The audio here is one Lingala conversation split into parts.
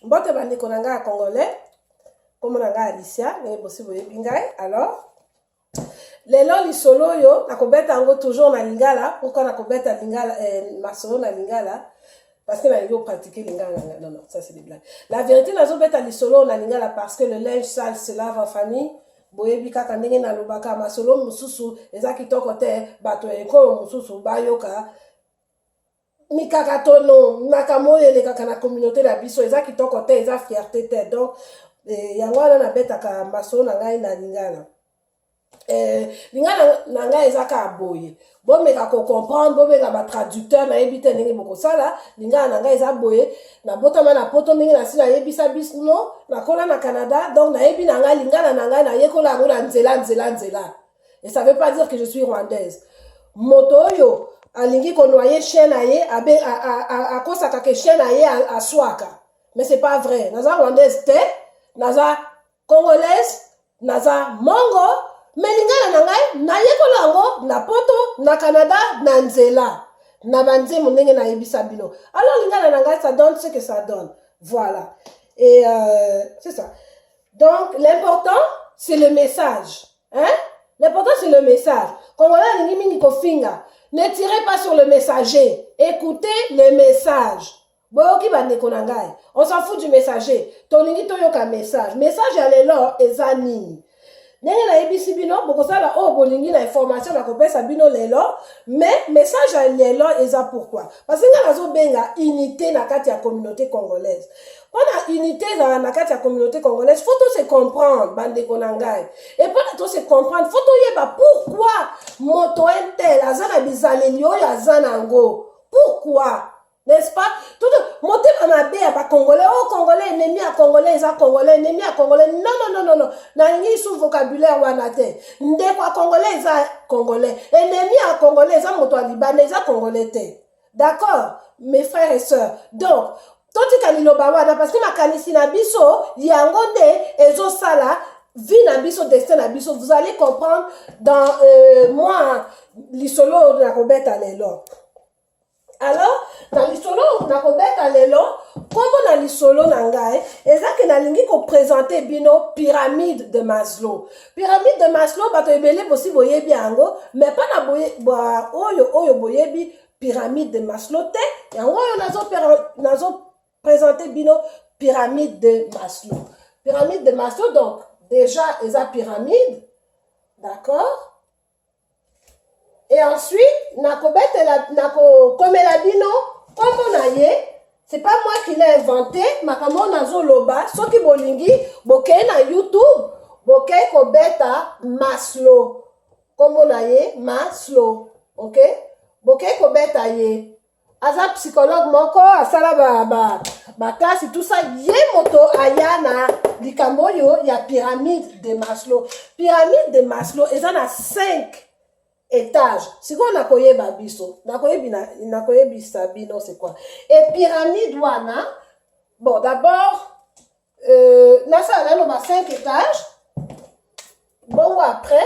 mbote bandeko na ngai ya congolais nkombo na ngai alicia ndenge bosi boyebi ngai alors lelo lisolo oyo nakobeta yango toujours na lingala pourkui nakobeta lingala eh, masolo na lingala parce que nalingi opratike lingala na non non ça c'est des blagues la vérité nazobeta lisolo oyo na lingala parce que le linge sale se lave en famille boyebi kaka ndenge nalobaka masolo mosusu eza kitoko te bato ya ekolo mosusu bayoka mikakatono makambo oyo elekaka na communauté na biso eza kitoko te eza fierte te donc eh, yango wana nabetaka masolo na ngai na lingala eh, lingala na ngai eza kaka boye bomeka kocomprendre bobenga batraducteur nayebi te ndenge bokosala lingala na ngai eza boye nabotama na poto ndenge nasi nayebisa bisno nakola na canada donc nayebi na ngai lingala na ngai nayekola yango na nzela nzela nzela et ça veut pas dire que je suis rwandaise moto oyo alingi konoye chien na ye akosaka ke chien na ye aswaka mais c'est pas vrai naza rwandaise te naza congolaise naza mongo me lingala na ngai nayekola yango na poto na canada na nzela na banzembo ndenge nayebisa bino alors lingala na ngai ça donne ce que ça donne voilà et euh, c'est ça donc l'important c'est le message Hein? L'important c'est le message. Congolais alingi mingi kofinga. Ne tirez pas sur le messager. Écoutez le message. boyoki bandeko na ngai on s'en fout du messager tolingi toyoka message message ya lelo eza nini ndenge nayebisi bino bokosala oyo oh, bolingi na information nakopesa bino lelo mais message ya lelo eza pourquoi parce ngai nazobenga unité na kati ya communauté congolaise mpona unité ezala na kati ya communauté congolaise faut to se comprendre bandeko na ngai e mpona to se comprendre faut toyeba pourquoi moto intel aza na bizaleli oyo aza na yango pourquoi n'est-ce pas tout motema mabe ya bacongolais o oh, congolais enemi ya congolais eza congolais enemi ya congolais non non non non non nalingi su vocabulaire wana te ndeko ya congolais eza congolais enemi ya congolais eza moto ya libanda eza congolais te D'accord mes frères et sœurs. Donc totika liloba wana parce que makanisi na biso yango nde ezosala vie na biso destin na biso vous allez comprendre dans euh, moi lisolo oyo nakobeta lelo alors na lisolo oyo nakobeta lelo nkombo na lisolo na ngai eza ke nalingi kopresente bino pyramide de maslow Pyramide de Maslow bato ebele bosi boyebi yango mais pas na boye ba oyo oyo boyebi pyramide de Maslow te yango oyo nazo nazo présenter bino pyramide de Maslow pyramide de Maslow donc déjà eza pyramide d'accord et ensuite nakobetela nakokomela bino nkombo na ye c'est pas moi qui l'ai inventé makambo oyo nazoloba soki bolingi bokei na youtube bokei kobeta maslo nkombo na ye maslo ok bokei kobeta ye aza psychologue moko asala ba, ba, ba classe tout ça ye moto aya na likambo oyo ya pyramide de maslow pyramide de maslow eza na 5 étage sikoyo nakoyeba biso nakoyebisa bino c'est quoi e pyramide wana bon d'abord euh, nasala nano ba 5 étage bongo après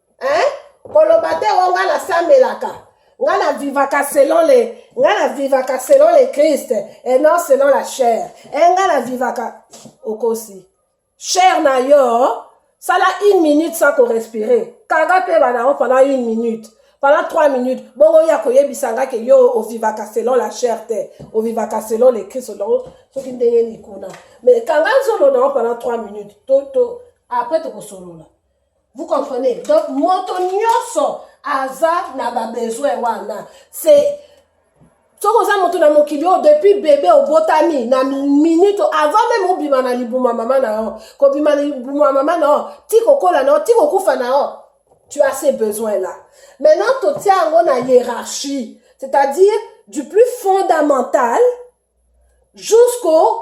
hein koloba te o oh, nga nasamelaka nga na vivaka selon le nga na vivaka selon le christ et non selon la chair e eh, nga na vivaka okosi chair na yo sala une minute sans korespirer kanga mpe banango pendant une minute pendant trois minutes bongo ya koyebisa nga ke yo ovivaka selon la chair te ovivaka selon le christ olongo soki ndenge nini kuna mais kanga nzolo nango pendant trois minutes to, to après tokosolola Vous comprenez? Donc, moto nyoso aza na ba besoin wana. C'est soki oza moto na mokili oyo depuis bebe obotami na minute avant meme obima na libuma mama na yo kobima na libuma mama na yo ti kokola na yo ti kokufa na yo tu as ces besoins là maintenant totia yango na hiérarchie c'est-à-dire du plus fondamental jusqu'au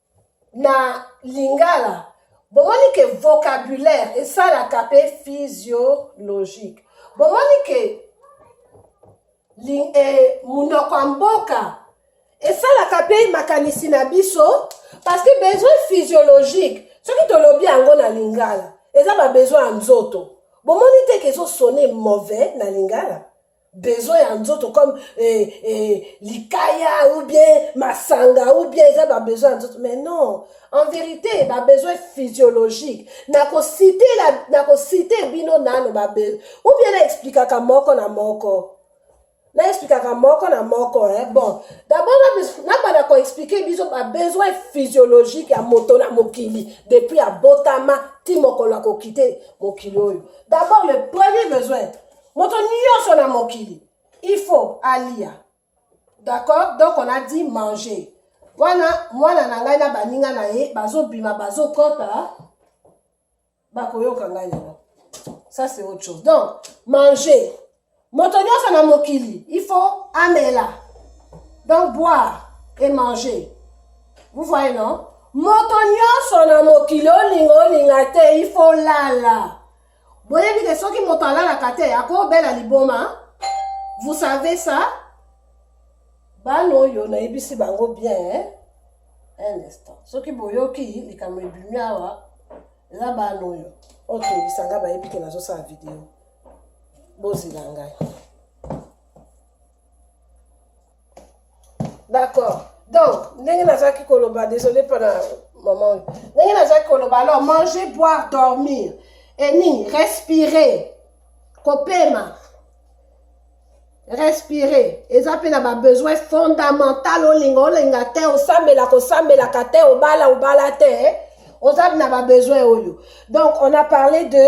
na lingala bomoni ke vocabulaire esalaka mpe physiologique bomoni ke eh, monoko ya mboka esalaka mpe makanisi na biso parce que besoin physiologique soki tolobi yango na lingala eza babesoin ya nzoto bomoni te ke ezosone mauvais na lingala besoin ya nzoto comme eh, eh, likaya ou bien masanga ou bien eza babesoin ya nzoto mais non en vérité babesoin physiologique nakosite nakosite bino nano babesoin ou bien naexplikaka moko na moko naexplikaka moko na moko eh? bon d'abord nabanda koexplike biso babesoin physiologique ya moto na mokili depuis abotama ti mokolo akokite mokili oyo d'abord le premier besoin moto nyonso na mokili il faut alia d'accord donc on a dit manger wana mwana na ngai na baninga na ye bazobima bazokɔta bakoyoka ngai yango ça c'est autre chose donc manger moto nyonso na mokili il faut amela donc boire et manger vous voyez non moto nyonso na mokili olinga olinga te il faut lala boyebi ke soki moto alalaka te akobela liboma vous savez ça bana oyo nayebisi bango bien un instant soki boyoki likambo ebimi awa eza bana oyo otungisa ngai bayebi ke nazosala video bozela ngai d'accord donc ndenge nazalaki koloba désolé mpona mama oyo ndenge nazalaki koloba alors manger boire dormir enini respirer kopema respire eza mpe na babesoin fondamental olinga olinga te osambela kosambelaka te obala obala te oza na babesoin oyo donc on a parlé de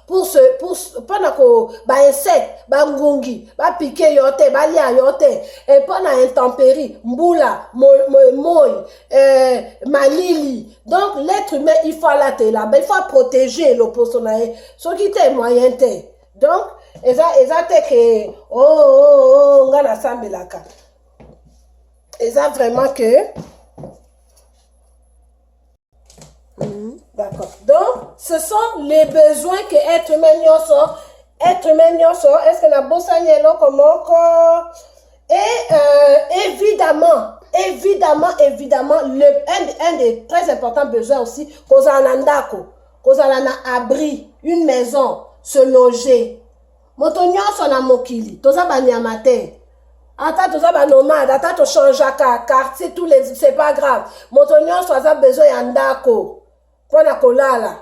pour ce pour mpona ko ba insecte ba ngungi ba piquer yo te ba lia yo te et mpona intempérie mbula moi euh, malili donc l'être humain il faut alatela il faut protéger loposo na ye soki te moyen te donc eza eza te ke o oh, o oh, o oh, oh, nga nasambelaka eza vraiment que Mm-hmm. D'accord. Donc, ce sont les besoins que être humain nyonso, être humain nyonso, est-ce que la bossa eloko moko et euh, évidemment, évidemment, évidemment, le, un, un des très importants besoins aussi, kozala na ndako, kozala na abri, une maison, se loger, moto nyonso na mokili toza banyama te ata toza banomade ata tochangeaka quartier tous les c'est pas grave moto nyonso aza besoin ya ndako mpo na kolala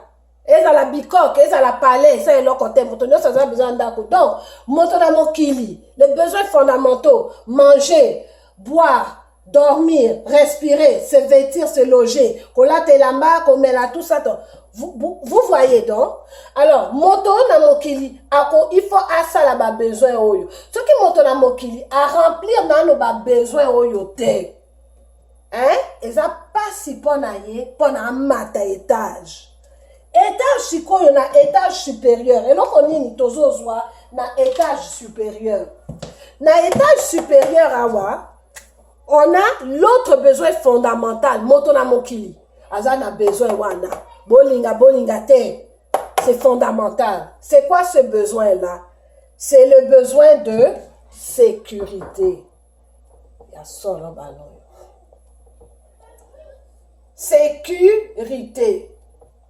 ezala bikoke ezala palais eza eloko te moto nyonso aza besoin ya ndako donc moto na mokili les besoins fondamentaux manger boire dormir respirer se vêtir se loger kolata elamba komela tout ça donc vous, vous, vous voyez donc alors moto oyo na mokili ako il faut asala babesoin oyo soki moto na mokili aremplir nano babesoin oyo te hein eza mpasi mpo na ye mpo na amata etage etage sikoyo na etage supérieur eloko nini tozozwa na etage supérieur na etage supérieur awa on a l'autre besoin fondamental moto na mokili aza na besoin wana bolinga bolinga te c'est fondamental c'est quoi ce besoin là c'est le besoin de sécurité ya solo baloyo sécurité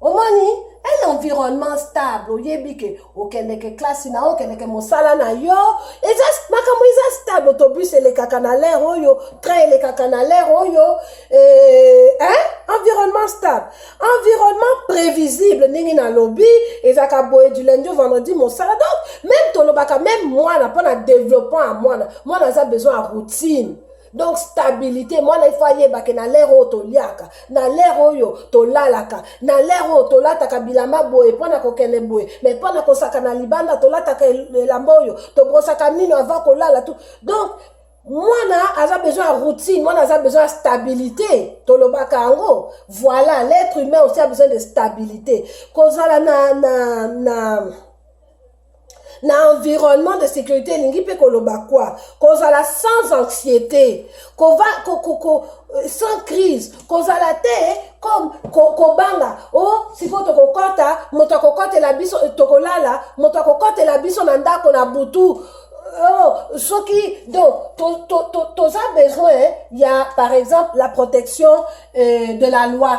omoni un environnement stable oyebi ke okendeke klasi na yo okendeke mosala na yo eza makambo eza stable autobus elekaka na lere oyo train elekaka na lere oyo eh, hein? environnement stable environnement prévisible ndenge nalobi ezalaka boye du lundi au vendredi mosala donc même tolobaka même mwana mpo na développement ya mwana mwana aza besoin ya routine donc stabilité mwana ifo ayebake na lere oyo toliaka na lere oyo tolalaka na lere oyo tolataka bilamba boye mpo na kokende boye mai mpo na kosaka na libanda tolataka elamba oyo tobrosaka mino avant kolala tu donc mwana aza besoin ya routine mwana aza besoin ya stabilité tolobaka yango voilà l'être humain aussi a besoin de stabilité kozala na, na, na na environnement de sécurité elingi mpe koloba kwa kozala sans anxiété kova, ko, ko, ko, euh, sans crise kozala te comme kobanga ko o oh, sikoyo tokokɔta moto akokɔtela biso tokolala moto akokɔtela biso na ndako na butu oh, soki donc toza to, to, to, besoin ya par exemple la protection euh, de la loi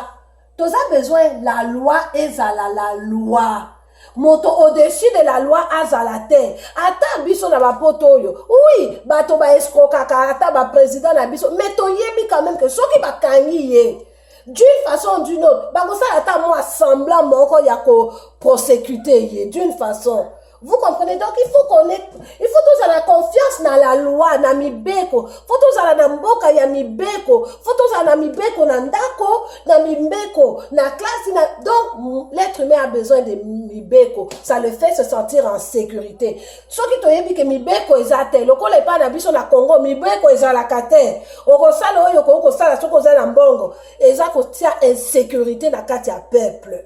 toza besoin la loi ezala la loi moto au-dessus de la loi azala te ata biso na bapoto oyo wi bato baeskrokaka ata baprésident na biso mais toyebi quand même ke soki bakangi ye d'une façon d'une autre bakosala ata mwa semblant moko ya koprosecute ye d'une façon Vous comprenez donc il faut qu'on ait il faut tozala confiance na la loi na mibeko faut tozala na mboka ya mibeko faut tozala na mibeko na ndako na mibeko na classe na donc l'être humain a besoin de mibeko ça le fait se sentir en sécurité soki toyebi ke mibeko eza te lokola epai na biso na Congo mibeko ezalaka te okosala oyo okoki kosala soki oza na mbongo eza kotia insécurité na kati ya peuple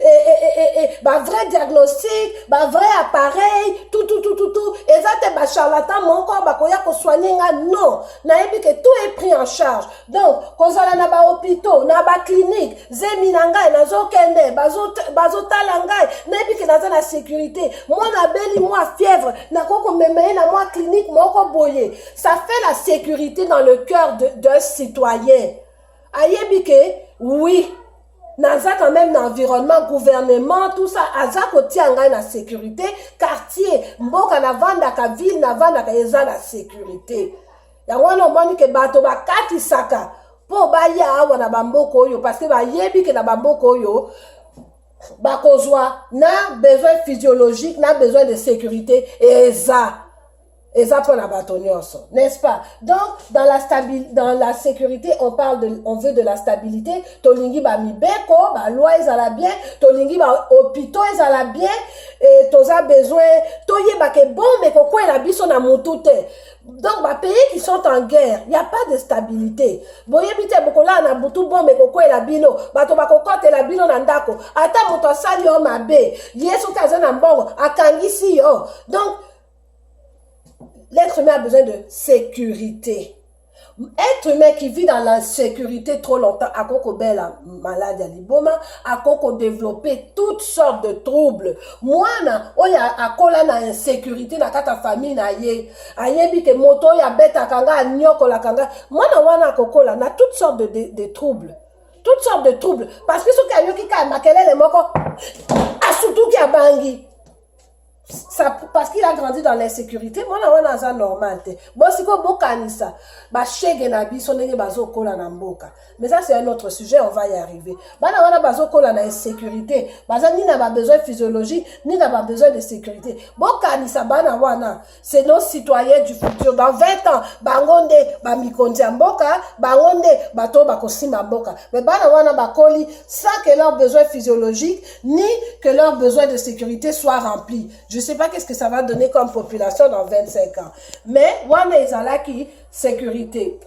et, et, et, et, et ba vrai diagnostic ba vrai appareil tout tout tout tout tout eza te ba charlatan moko bakoya kosoigne nga non nayebi ke tout est pris en charge donc kozala na ba hôpitaux na ba clinique zemi na ngai nazokende bazotala ngai nayebi ke naza na sécurité mwana abeli mwa fièvre nakoki komema ye na mwa clinique moko boye ça fait la sécurité dans le cœur d'un citoyen ayebi ke oui naza quand même na environnement gouvernement tout ça aza kotia ngai na sécurité quartier mboka navandaka ville navandaka eza na sécurité yango wana omoni ke bato bakatisaka mpo baya awa na bamboka oyo parceke bayebi ke na bamboka oyo bakozwa na besoin physiologique na besoin de sécurité eza eza mpo na bato nyonso n'est-ce pas donc dans la, stabi, dans la sécurité on parle de, on veut de la stabilité tolingi bamibeko baloi ezala bien tolingi bahôpitaux ezala bien e, toza besoin toyeba ke bombe ekokwela biso na motu te donc bapays qui sont en guerre ya pas de stabilité boyebi te bokolala na butu bombe ekokwela bino bato bakokotela bino na ndako ata moto asali yo mabe ye soki aza na mbongo akangisi yo donc L'être humain a besoin de sécurité. Être humain qui vit dans l'insécurité trop longtemps, à coco bella malade à liboma, à coco développer toutes sortes de troubles. Moi, na, oya a kola na insécurité na kata famille na ye, a yebi te moto ya beta kanga, a nyoko la kanga. Moi, na wana coco la, na toutes sortes de, de, de troubles. Toutes sortes de troubles. Parce que ce qui a yoki ka makelele moko, a surtout qui a bangi. ça, parce qu'il a grandi dans l'insécurité mwana wana aza normal te bo sikoyo bokanisa bashege na biso ndenge bazokola na mboka mais ça c'est un autre sujet on va y arriver bana wana bazokola na insécurité baza ni na babesoin physiologique ni na babesoin de sécurité bokanisa bana wana c'est nos citoyens du futur dans 20 ans bango nde bamikonzi ya mboka bango nde bato oyo bakosimba mboka me bana wana bakoli sans que leur besoin physiologique ni que leur besoin de sécurité soit rempli je sais pas qu'est-ce que ça va donner comme population dans 25 ans mais wana ezalaki sécurité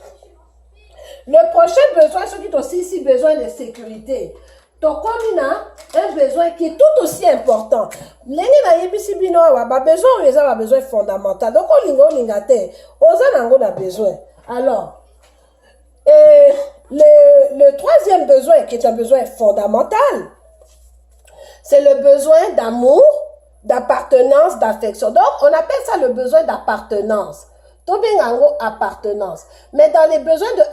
le prochain besoin soki tosilisi besoin de sécurité tokomi na un besoin qui est tout aussi important ndenge nayebisi bino awa babesoin oyo eza babesoin fondamental donc olinga olinga te oza na yango na besoin alors et le, le troisième besoin qui est un besoin fondamental c'est le besoin d'amour d'appartenance d'affection donc on appelle ça le besoin d'appartenance tobenga yango appartenance mais dans les besoins de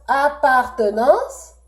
appartenance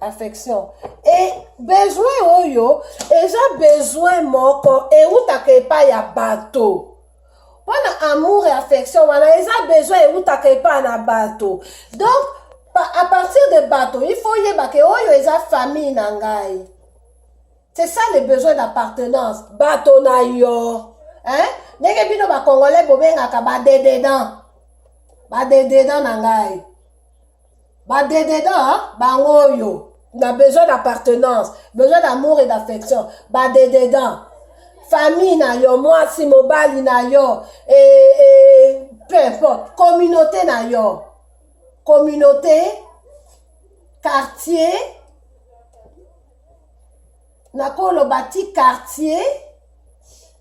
affection e besoin oyo eza besoin moko ewutaka epai ya bato mpo na amour e affection wana eza besoin ewutaka epai na bato donc à partir de bato il faut oyebaka oyo eza famille na ngai c'est ça le besoin d'appartenance bato na yo hein? ndenge bino bacongolais bobengaka badededan badededan na ngai Ba dededa hein? bango oyo na besoin d'appartenance, besoin d'amour et d'affection. Ba dededa. Famille na yo, mwasi mobali na yo, et, et peu importe, communauté na yo. Communauté, quartier, nakoloba ti quartier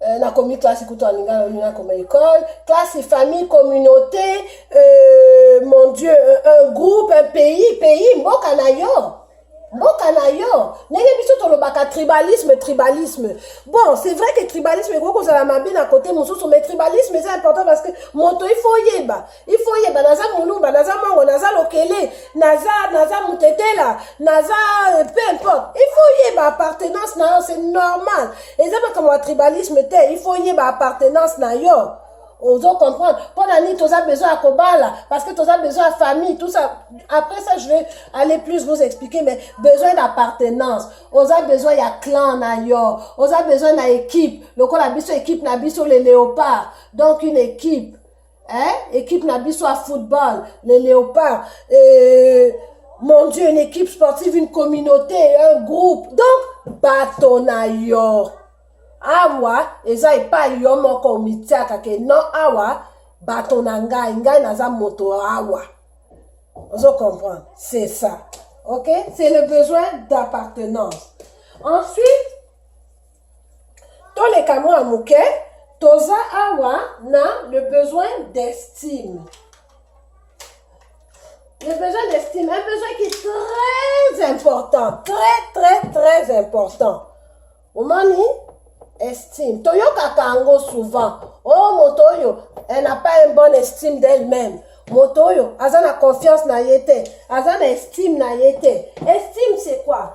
Euh, na komi classe kutu ya lingala olingi nakoma école classe famille communauté euh, mon dieu un, un groupe un pays pays mboka na yo mboka na yo ndenge biso tolobaka tribalisme tribalisme bon c'est vrai que tribalisme ekoki kozala mabe na kote mosusu mais tribalisme eza important parce que moto ifo oyeba il faut oyeba naza muluba naza mongo naza lokele naza naza mutetela naza euh, peu importe il faut oyeba appartenance na yo c'est normal eza makambo ya tribalisme te il faut oyeba appartenance na yo ozo comprendre mpo na nini toza besoin ya kobala parce que toza besoin ya famille tout ça après ça je vais aller plus vous expliquer mais besoin d'appartenance oza besoin ya clan na yo oza besoin na équipe lokola biso équipe na biso le léopard donc une équipe hein? équipe na biso ya football les léopards euh, mon dieu une équipe sportive une communauté un groupe donc bato na yo awa eza epai yo moko omitiaka ke no awa bato na ngai ngai naza moto awa ozo comprendre c'est ça ok c'est le besoin d'appartenance ensuite toleka mwa moke toza awa na le besoin d'estime le besoin d'estime un besoin qui est très important très très très important omoni estime toyokaka yango souvent o oh, moto oyo elle n'a pas une bonne estime d'elle-même moto oyo aza na confiance na ye te aza na estime na ye te estime c'est quoi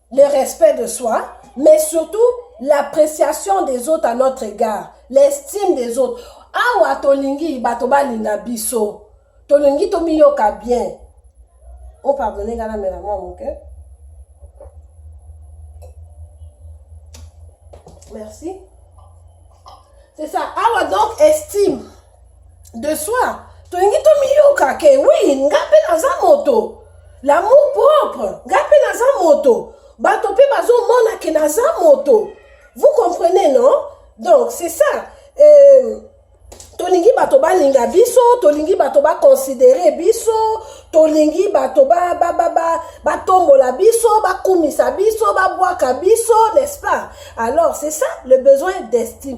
le respect de soi, mais surtout l'appréciation des autres à notre égard, l'estime des autres. Awa tolingi bato balinga biso, tolingi tomiyoka bien. Oh pardonnez ngana mela mwa moke. Merci. C'est ça. Awa donc estime. de soi tolingi tomiyoka ke wi nga mpe naza moto lamour propre nga mpe naza moto bato mpe bazomona ke naza moto vous comprenez non donc c'est ça euh, tolingi bato balinga biso tolingi bato bakonsidere biso tolingi bato batombola biso bakumisa biso babwaka biso n'est-ce pas alors c'est ça le besoin d'estime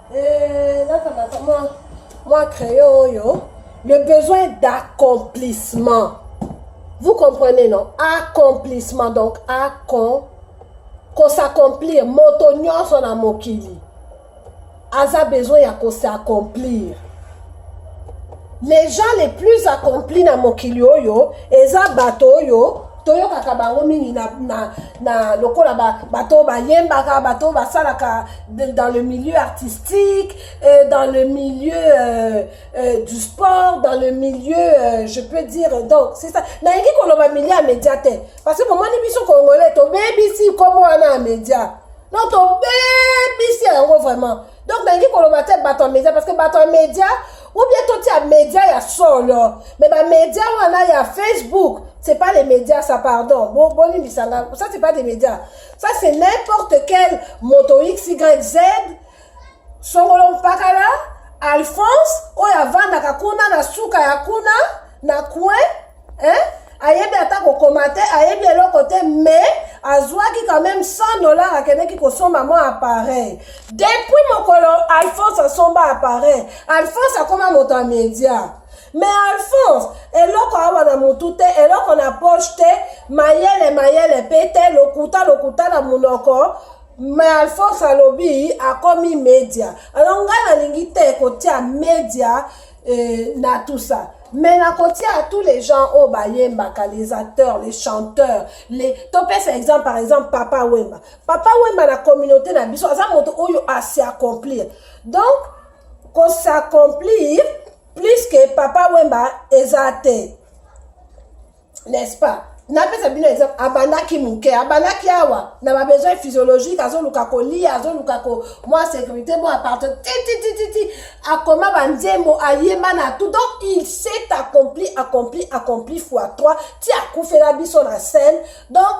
Eh, nakamata mwa mwa crayon oyo le besoin d'accomplissement vous comprenez non accomplissement donc accom kosacomplir moto nyonso na mokili aza besoin ya kosacomplir les gens les plus accomplis na mokili oyo eza bato oyo toyokaka bango mingi na, na, na lokola bato oyo bayembaka bato oyo basalaka dans le milieu artistique euh, dans le milieu euh, euh, du sport dans le milieu euh, je peux dire donc c'est ça nalingi koloba milieu ya média te parce que bomoni biso congolais tobebisi nkombo wana ya média donc tobebisi yango vraiment donc nalingi koloba te bato ya media parce que bato ya media ou bien totia media ya solo mais bamedia wana ya facebook c'est pas les médias ça pardon bolimbisa nga ça c'est pas des médias ça c'est n'importe quel moto xyz songolo mpakala alphonse oyo avandaka kuna na suka ya kuna na coin eh? ayebi ata kokoma te ayebi eloko te mais azwaki quand même 100 dollars akendeki kosomba mwa appareil depuis mokolo alphonse asomba appareil alphonse akoma moto ya media me alphonse eloko awa na motu te eloko na poche te mayele mayele mpe te lokuta lokuta na monoko me alphonse alobi akomi media alors ngai nalingi te kotia media et na tout ça mais nakotia à tous les gens oyo bayembaka les acteurs les chanteurs les topesa exemple par exemple papa wemba papa wemba na communauté na biso aza moto oyo asi accomplir donc kosaccomplir plus que papa wemba eza te n'est-ce pas napesa bino exemple abandaki moke abandaki awa na babesoin physiologique azoluka kolia azoluka ko mwa sécurité mwa aparte tititititi akoma banzembo ayemba na tout donc il s'est accompli accompli accompli fois 3 ti akufela biso na scène donc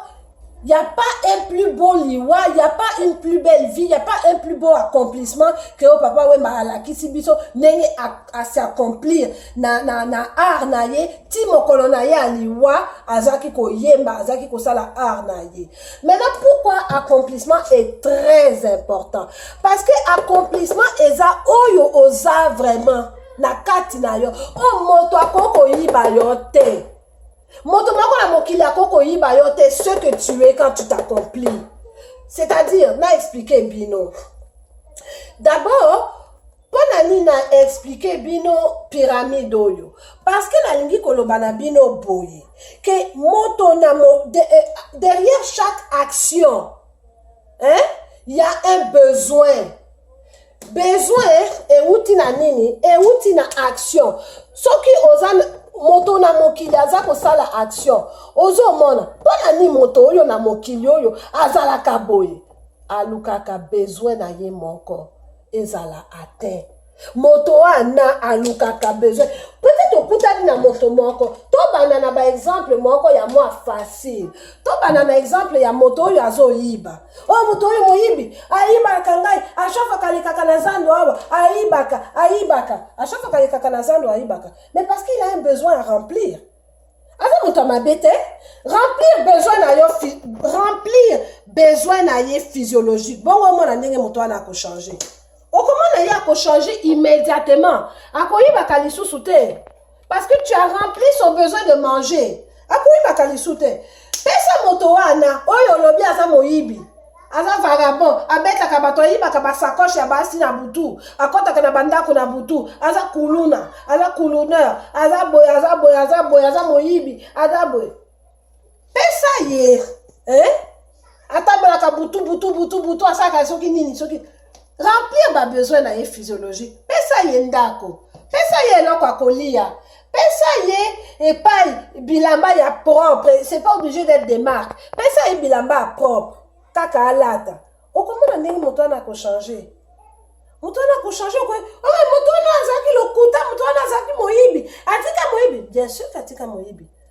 Il n'y a pas un plus beau liwa, il n'y a pas une plus belle vie, il n'y a pas un plus beau accomplissement que au oh, papa Wemba alakisi biso ndenge à s'accomplir na na na art na ye ti mokolo na ye aliwa azaki koyemba azaki kosala art na ye. Maintenant pourquoi accomplissement est très important parce que accomplissement eza oyo oza vraiment na kati na yo oyo oh, moto akoki koyiba yo te. moto moko na mokili ako koyiba yo te ce que tu es quand tu t'accomplis c'est-à-dire na explike bino d'abord mpo na nini na explike bino pyramide oyo parce que nalingi koloba na bino boye ke moto na mo, de, eh, derrière chaque action hein? ya un besoin besoin euti na nini euti na action soki oza moto na mokili aza kosala action ozomona mpo na nini moto oyo na mokili oyo azalaka boye alukaka besoin na ye moko ezala atteint moto wana alukaka besoin peut-être okutani na moto moko tobanda na baexemple moko ya mwa facile tobanda na exemple ya moto oyo azoyiba oyo oh, moto oyo moyibi ayibaka ngai ashafaka alekaka na zando awa ayibaka ayibaka ashafaka alekaka na zando ayibaka mais parce qu'il a un besoin à remplir aza moto ya mabe te remplir besoin na yo remplir besoin na ye physiologique bongo omona ndenge moto wana akochange okomona ye akochange immédiatement akoyibaka lisusu te parce que tu as rempli son besoin de manger akoyibaka lisusu te pesa moto wana oyo olobi aza moyibi aza vagabond abetaka bato ayibaka basakoche ya basi na butu akɔtaka na bandako na butu aza kuluna aza kuluneur aza boye aza boye aza boye aza moyibi aza boye pesa ye eh? atambolaka butu butu butu butu asalaka soki nini soki remplir ba besoin na ye physiologique pesa ye ndako pesa ye eloko akolia pesa ye epai bilamba ya propre c'est pas obligé d'être des marques pesa ye bilamba ya propre kaka alata okomona ndenge moto wana akochange moto wana akochange okoye oyo moto wana azalaki lokuta moto wana azalaki moyibi atika moyibi bien sûr atika moyibi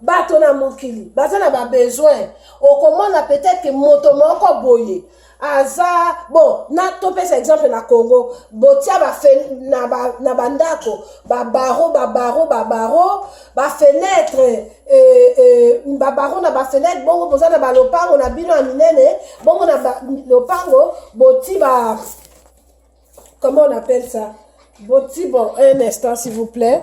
bato na mokili baza na babesoin okomona peut-être moto moko boye aza bon na topesa exemple na congo botia bafe na bandako ba babaro babaro babaro bafenetre eh, eh, babaro na bafenetre bongo boza na balopango na bino ya minene bongo na lopango boti ba comment on appelle ça boti bon un instant s'il vous plaît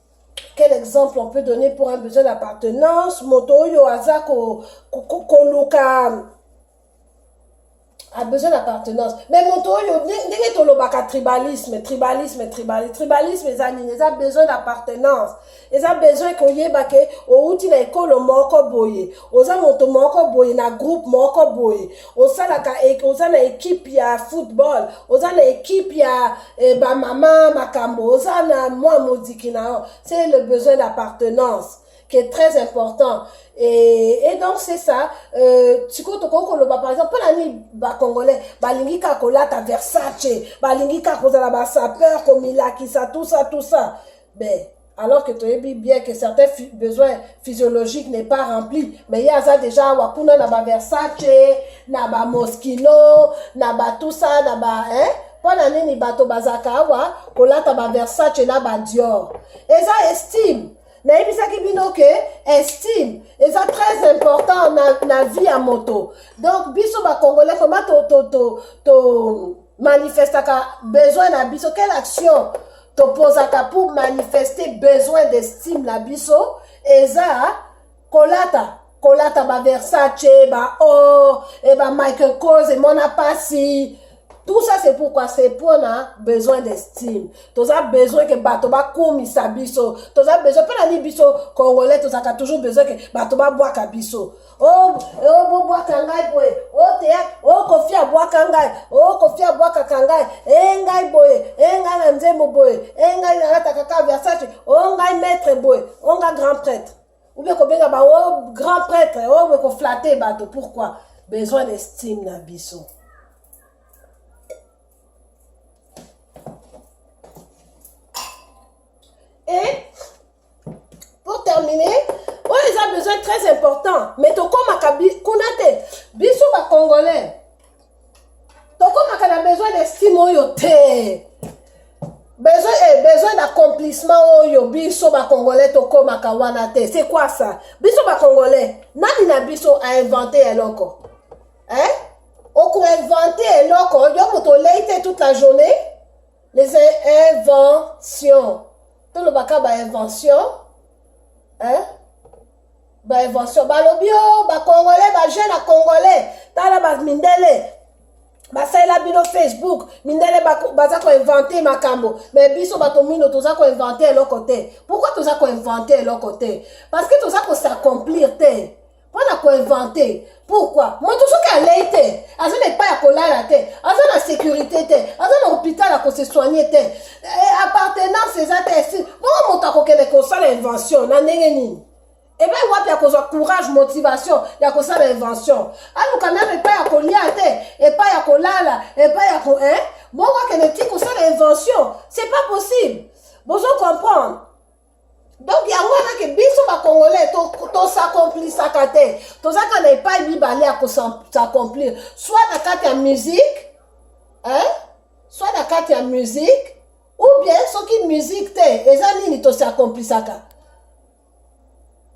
quel exemple on peut donner pour un besoin d'appartenance moto oyo aza koluka ko, ko, ko a besoin d'appartenance mais moto oyo ndenge tolobaka tribalisme tribalisme tribalisme tribalisme eza nini eza besoin d'appartenance eza besoin koyeba ke outi na ekolo moko boye oza moto moko boye na groupe moko boye osalaka oza na ekipe ya football oza na ekipe ya eh, bamama makambo oza na mwa moziki na yo c'est le besoin d'appartenance qui est très important et, et donc c'est ça euh, sikoyo tokoki koloba par exemple mpona nini bacongolais balingi kaka kolata versace balingi kaka kozala basapeur komilakisa tout ça tout ça mais alors que toyebi bien que certains fi besoins physiologiques n'est pas rempli mais ye aza déjà awa kuna na baversace na bamoskino na batusa na ba hein? mpo na nini bato bazalaka awa kolata baversace na badior eza estime nayebisaki bino ke estime eza très important na, na vie ya moto donc biso bacongolais vraimen to, to, to, to manifestaka besoin na biso quelle action topozaka pour manifester besoin d'estime na biso eza kolata kolata baversace baor e bamichael cause emona mpasi tout ça c'est pourquoi c'est mpona besoin d'estime toza besoin ke bato bakumisa biso toza besoin mpo na nini biso congolais tozalaka toujours besoin ke bato babwaka biso Oh, oh, bobwaka ngai boye oteya oh, okofi oh, abwaka ngai okofi oh, abwakaka ngai e ngai boye e ngai na nzembo boye e ngai nalataka ka versace o ngai maître boye o ngai grand prêtre oubie kobenga bango grand prêtre obe koflate bato pourquoi besoin d'estime na biso e pour terminer oyo eza besoin très important mais tokomaka kuna te biso bacongolais tokomaka na besoin d'estime oyo te besoin eh, besoin d'accomplissement oyo biso bacongolais tokomaka wana te c'est quoi ça biso bacongolais nani na biso ainvente eloko eh? okoinvente eloko yo moto olei te toute la journée les inventions tolobaka ba invention hein? ba invention balobi o bacongolais bajeune congolais tala bamindele basalela bino facebook mindele baza koinvente makambo me biso bato mino toza koinvente eloko te pourkui toza koinvente eloko te parce que toza kosacomplir te mpona koinvente pourkui moto soki alei te aza na epai ya kolala te aza na sécurité te aza na hôpital ya kosesoigne te eh, appartenance eza te si bongo moto akokende kosala invention na ndenge nini epai wapi ya kozwa courage motivation ya kosala invention aluka meme epai ya kolia te epai ya kolala epai ya ko eh? bongo akende ti kosala invention c'est pas possible bozo comprendre donc yango wana ke biso bacongolais tosakomplisaka te tozaka na epai mibale ya kosakomplir soit na kati ya musique hein? soit na kati ya musique ou bien soki musique te eza nini tosakomplisaka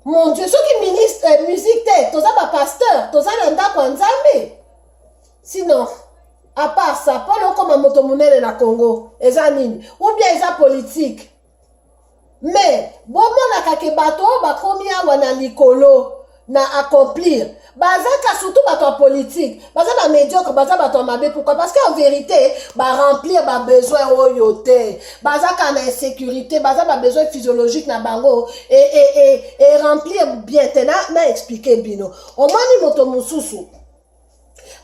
mon dieu soki ministre eh, musique te toza bapasteur toza na ndako ya nzambe sinon apart ça mpo na okoma moto monene na congo eza nini ou bien eza politique mais bomonaka ke bato oyo bakomi awa na likolo na accomplir baza ka surtout bato ya politique baza ba médiocre baza bato ya mabe pourquoi parce que en vérité baremplir babesoin oyo te baza ka na insécurité baza babesoin physiologique na bango e, e, e, e remplir bien te na, na explike bino omoni moto mosusu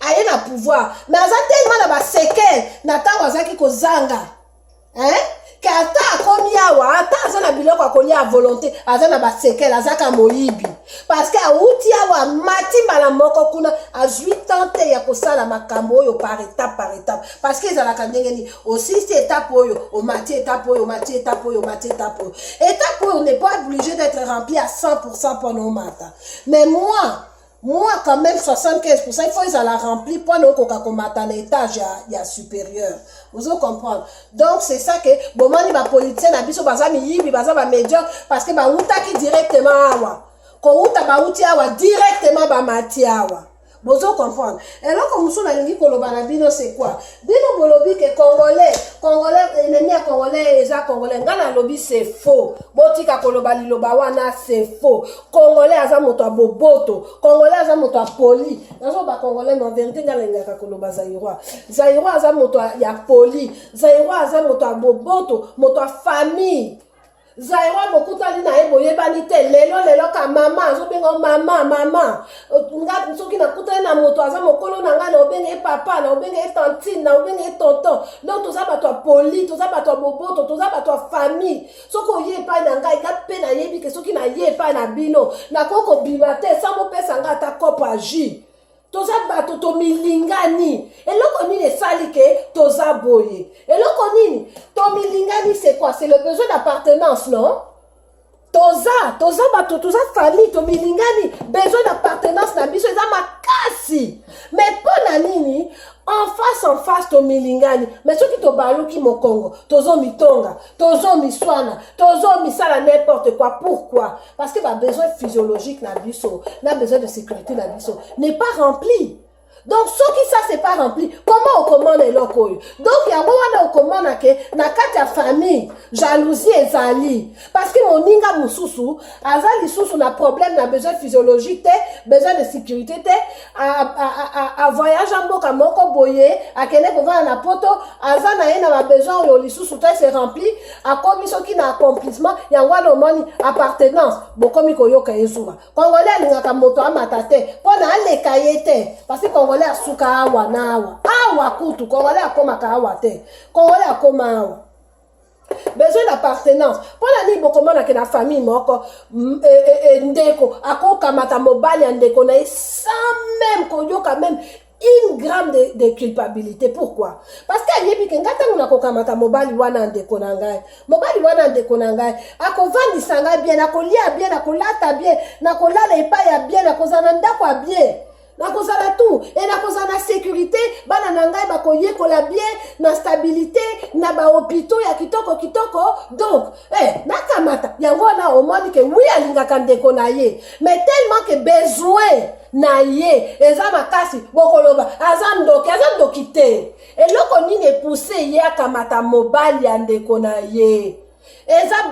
aye na pouvoir mais aza tellement na basekele na ntango azalaki kozanga hein? ke ata akomi awa ata aza na biloko ya kolia ya volonté aza na basekele azaka moyibi parce que awuti awa amati mbala moko kuna azwi temps te ya kosala makambo oyo par étape par étape parce que ezalaka ndenge nini osilisi étape oyo omati étape oyo omati étape oyo omati étape oyo étape oyo n'est pas obligé d'être rempli à 100 pour cent mpona omata mais moi Moi quand même 75% il faut ezala rempli mpo na okoka komata na étage ya, ya supérieur ozo comprendre donc c'est ça que bomoni bapoliticien na biso baza miyibi baza bamédiocre parce que bawutaki directement awa kowuta bawuti awa directement bamati awa bozo comprendre eloko mosusu nalingi koloba na bino c'est quoi bino bolobi ke congolais congolais ennemi ya congolais eza congolais ngai nalobi c'est faux botika koloba liloba wana c'est faux congolais aza moto ya boboto congolais aza moto ya poli nazoloba congolais na verité ngai nalingaka koloba zairoi zairoi aza moto ya poli zairoi aza moto ya boboto moto ya famille zairoi bokutani na ye boyebani te lelo lelo ka mama azobenga o mama mama nga soki nakutani na moto aza mokolo na ngai naobenga ye papa naobenga ye tantine naobenga ye tonton donc toza bato ya poli toza bato ya boboto toza bato ya famille soki oye epai na ngai nga mpe nayebi ke soki naye epai na bino nakoki kobima te sa bopesa ngai ata kopo ya jus toza bato tomilingani eloko nini esali ke toza boye eloko nini tomilingani c'est quoi c'est le besoin d'appartenance non toza toza bato toza famille tomilingani besoin d'appartenance na biso eza makasi mais mpo na nini en face en face tomilingani mais soki tobaluki mokongo tozomilonga tozo miswana tozo misala n'importe quoi pourquoi parce que babesoin physiologique na biso na besoin de sécurité na biso n'est pas rempli donc soki ça c'est pas rempli comment okomona eloko oyo donc yango wana okomona ke na kati ya famille jalousie ezali parce que moninga mosusu aza lisusu na problème na besoin physiologique te besoin de sécurité te avoyage a mboka moko boye akende kovanda na poto aza na ye na babesoin oyo lisusu te se rempli akomi soki na accomplissement yango wana omoni appartenance bokomi koyoka ye zuwa congolais alingaka moto amata te mpo na aleka ye te parce congolais asuka awa na awa awa kutu congolais akomaka awa te congolais akoma awa besoin d'appartenance mpo na nini bokomona ke na famille moko mm, e, e, e, ndeko akokamata mobali ya ndeko na ye sans meme koyoka meme une gramme de, de culpabilité pourquoi parce que ayebi ke ngai ntango nakokamata mobali wana ndeko na ngai mobali wana ndeko na ngai akovandisa ngai bien nakolia bien nakolata bien nakolala epai ya bien nakozala na ndako ya bien nakozala tu e nakozala na sekurite bana na ngai bakoyekola bien na stabilite na bahopitau ya kitoko kitoko donc eh, nakamata yango wana omoni ke wi alingaka ndeko na ye mais tellement ke besoin na ye eza makasi bokoloba aza ndoki aza ndoki te eloko nini epuse ye akamata mobali ya ndeko na ye eza